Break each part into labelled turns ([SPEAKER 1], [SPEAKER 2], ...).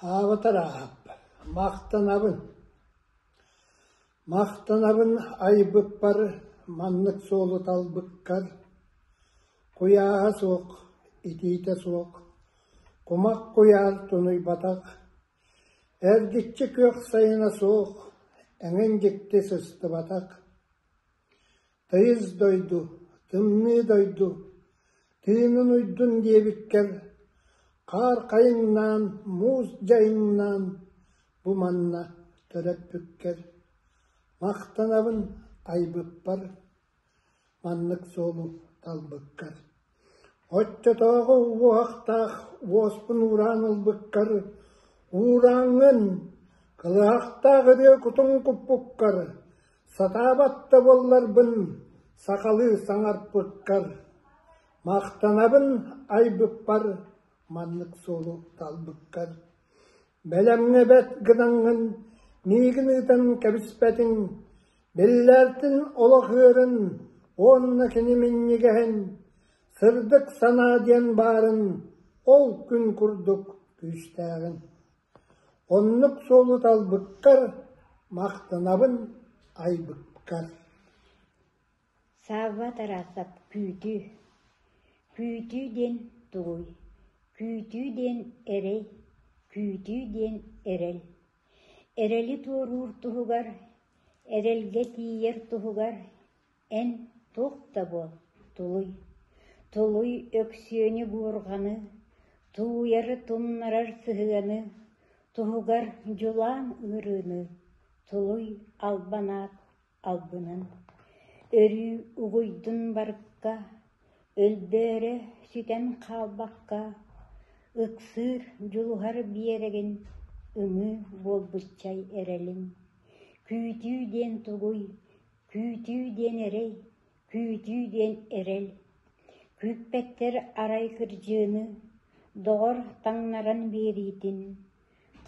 [SPEAKER 1] Хаабытар аахап, махтанабын. Махтанабын айбыппар, маннык суолу талбыккар. Куйааһа суох, итиитэ суох, кумах куйаар тунуйбатах, Эргиччи күөх сайына суох, эҥин дьикти сыстыбатах, тыйыс дойду, тымныы дойду, тыынын уйдун диэбиккэр, хаар хайыҥнаан, муус дьайыҥнаан бу манна төрөппүккэр, махтанабын айбыппар Маннык суолу талбыккар, оччотооҕу уоһахтаах уоспун уураан ылбыккар, уурааҥҥын, кылаахтаах ырыа кутуҥ куппуккар, сатаабат да буолларбын, сахалыы саҥарпыккар, махтанабын айбыппар маннык суолу талбыккар, бэлэмҥэ бэрт гынаҥҥын миигин ыытан кэбиспэтиҥ Биллэртин олох үөрүн уонна кини минньигэһин «Сырдык санаа» диэн баарын ол күн курдук күүстээҕин. Оннук суолу талбыккар махтанабын айбыккар. Савва Тарасов күүтүү Күүтүү диэн тугуй? Күүтүү диэн эрэй, күүтүү диэн эрэл Эрэли туоруур туһугар, эрэлгэ тиийэр туһугар эн туох да буол, тулуй, тулуй Өксүөнү-буурҕаны, тууйары тумнарар сыһыаны, туһугар дьулаан ыарыыны, тулуй албанаат. албынын, өрүү угуйдун барыкка, өлбөөрө сүтэн хаалбакка, ыксыыр, дьулуһар биэрэгин ымыы буолбуччай эрэлин, күүтүү диэн тугуй, күүтүү диэн эрэй, күүтүү диэн эрэл, күүппэттэр арай кырдьыыны, доҕор таҥнаран биэриитин,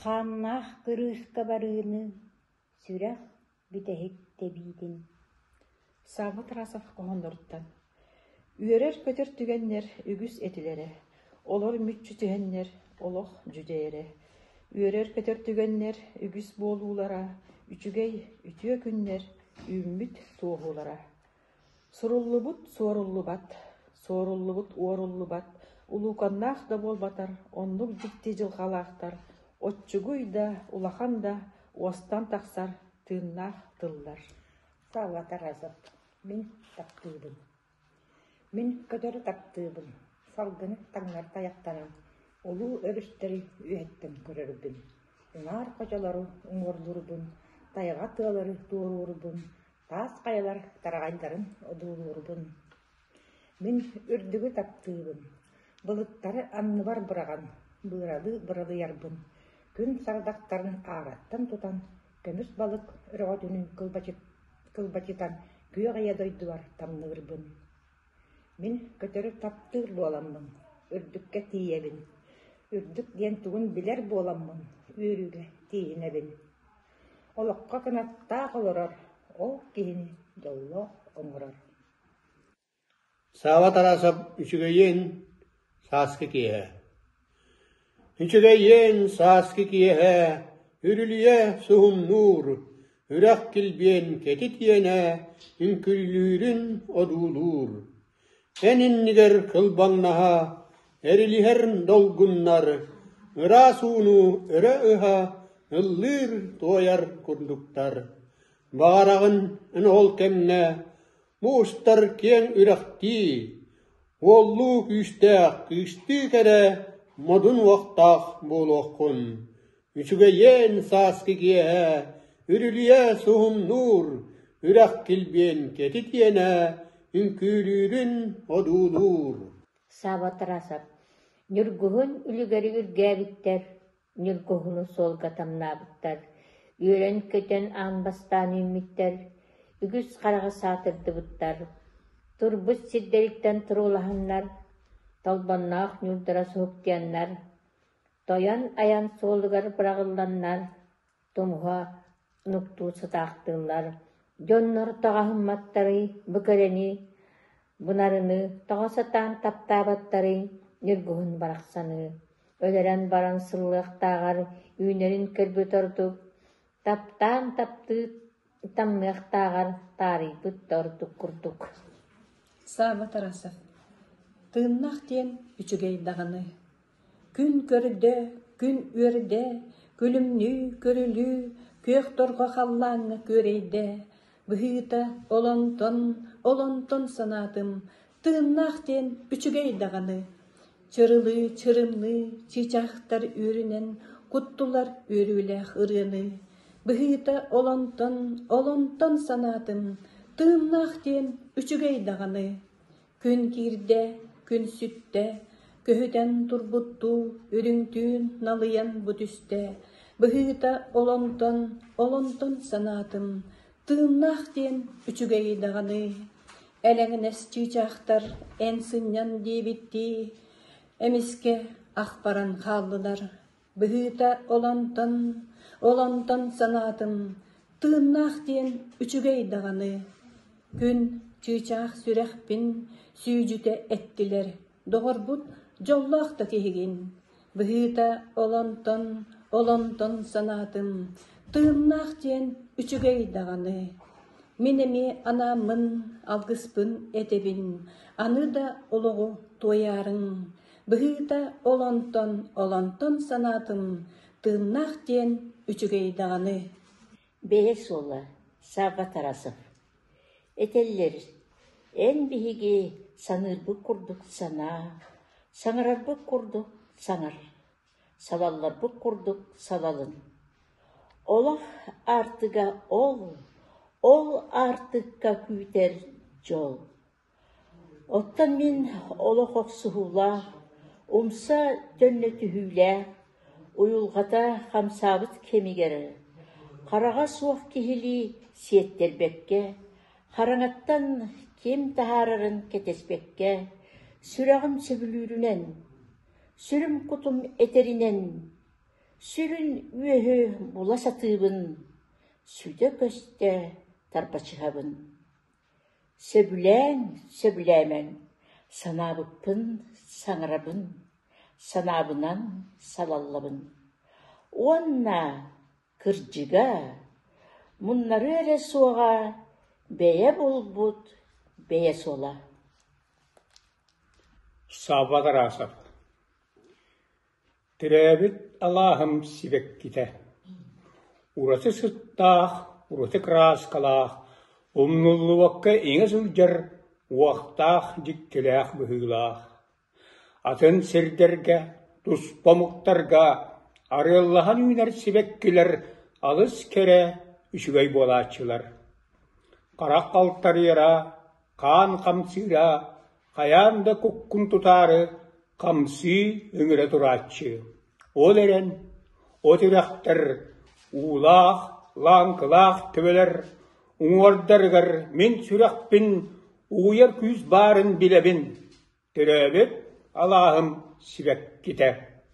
[SPEAKER 1] хааннаах кырыыска барыыны, сүрэх, бүтэһик тэбиитин Савва Тарасов хоһоонноруттан Үөрэр-көтөр түгэннэр үгүс этилэрэ, олор мүччү түһэннэр олох дьүдьэйэрэ, үөрэр-көтөр түгэннэр үгүс буолуулара, үчүгэй үтүө күннэр үүммүт суоһуулара Суруллубут – суоруллубат, суоруллубут – уоруллубат, улууканнаах да буолбатар, оннук дьикти дьылҕалаахтар, оччугуй да, улахан да уостан тахсар тыыннаах тыллар Сава Таразов Мин таптыыбын Мин көтөрү таптыыбын Салгыны таҥнар тайахтанан Улуу өрүстэри үөһэттэн көрөрбүн Уҥаар хочолору уҥуорлуурбун Тайҕа тыалары туоруурбун Таас хайалар тараҕайдарын одуулуурбун, мин үрдүгү таптыыбын, былыттары анныбар быраҕан, быыралыы-быралыйарбын, күн сардахтарын аараттан тутан, көмүс балык өрөҕөтүн кылбачытан күөх эйэ дойдубар тамныырбын. Мин көтөрү таптыыр буоламмын, үрдүккэ тиийэбин, үрдүк диэн тугун билэр буоламмын, үөрүүгэ тииһинэбин. Олоххо кынаттаах олорор, ол киһини дьоллоох оҥорор Саала Тарасов үчүгэйин сааскы киэһэ Үчүгэйин сааскы киэһэ Үрүлүйэ суһумнуур Үрэх килбиэн кэтит иэнэ Үҥкүллүүрүн одуулуур Эн иннигэр кылбаҥнаһа, эрилиһэр долгуннар, ыраас ууну өрө ыһа, ыллыыр, туойар курдуктар. Баҕараҕын эн ол кэмнэ муустар киэҥ үрэхтии, уоллуу күүстээх кыыстыы кэрэ модун уохтаах буолуоххун. Үчүгэйиэн сааскы киэһэ, үрүлүйэ суһумнуур, үрэх килбиэн кэтитиэнэ үҥкүүлүүрүн одуулуур Саабатарасов Ньургуһун үлүгэри үргээбиттэр, Ньургуһуну суолга тамнаабыттар, үөрэн-көтөн аан бастаан үүммүттэр, үгүс хараҕы саатырдыбыттар, турбут сирдэриттэн туруулаһаннар, толбонноох ньуурдара суһуктуйаннар, Тойон айан суолугар быраҕылланнар, тумуһа нуктуу сытаахтыыллар, дьоннор тоҕоһумматтарый, бу кэрэни, бунарыны тоҕо сатаан таптаабаттарый, ньургуһун барахсаны, өлөрөн баран сыллыахтааҕар үүнэрин көрбүт ордук, таптаан таптыы Тамныахтааҕар таарыйбыт да ордук курдук Саба Тарасов Тыыннаах диэн үчүгэй даҕаны Күн көрдө, күн үөрдэ, күлүмнүү көрүлүү Күөх торҕо халлааҥҥа күөрэйдэ Быһыыта олонтон, олонтон санаатым Тыыннаах диэн үчүгэй даҕаны, чырылыы чырымныы чыычаахтар үөрүнэн куттулар үөрүүлээх ырыаны, быһыыта олонтон олонтон санаатын тыыннаах диэн үчүгэй даҕаны, күн киирдэ күн сүттэ, көһүтэн турбуттуу үрүҥтүүн налыйан бу түстэ, быһыыта олонтон олонтон санаатын Тыыннаах диэн үчүгэйи даҕаны, элэҥнэс чыычаахтар эн сынньан диэбиттии, эмискэ ахпаран хааллылар, быһыыта олонтон, олонтон санаатым: тыыннаах диэн үчүгэй даҕаны, күн чыычаах сүрэхпин сүүдьүтэ эттилэр Доҕорбут дьоллоох да киһигин, быһыыта олонтон, олонтон санаатым, тыыннаах диэн үчүгэй даҕаны. Мин эмиэ анааммын, алгыспын этэбин, аны да олоҕу туойаарыҥ, быһыыта олонтон, олонтон санаатым, тыыннаах диэн үчүгэй даҕаны. Бэйэ суола Савва Тарасов Этэллэр: «Эн биһиги саныырбыт курдук санаа, саҥарарбыт курдук саҥар, салалларбыт курдук салалын. Олох аартыга ол, ол аартыкка күүтэр дьол» Оттон мин олох охсуһуулаах, умса төннө түһүүлээх, уйулҕата хамсаабыт кэмигэр хараҕа суох киһилии сиэттэрбэккэ, хараҥаттан ким таһаарарын кэтэспэккэ, сүрэҕим сөбүлүүрүнэн, сүрүм кутум этэринэн, сүрүн үөһү була сатыыбын, сүтэ көстө тарбачыһабын Сөбүлээн, сөбүлээмэҥ, санаабыппын саҥарабын, санаабынан салаллабын уонна, кырдьыга, муннарыа эрэ суоҕа бэйэ булбут бэйэ суола Төрөөбүт алааһым сибэккитэ, ураты сыттаах, ураты кырааскалаах, умнуллубакка иҥэ сылдьар уохтаах дьиктилээх быһыылаах. Атын сирдэргэ, туспа омуктарга арыаллаһан үүнэр сибэккилэр алыс кэрэ, үчүгэй буолааччылар. Харах халтарыйара, хаан хамсыыра, хайаан да куккун тутаары хамсыы үмүрэ турааччы ол эрэн о тирэхтэр уулаах лааҥкылаах төбөлөр уҥуордарыгар мин сүрэхпин угуйар күүс баарын билэбин төрөөбүт алааһым сибэккитэ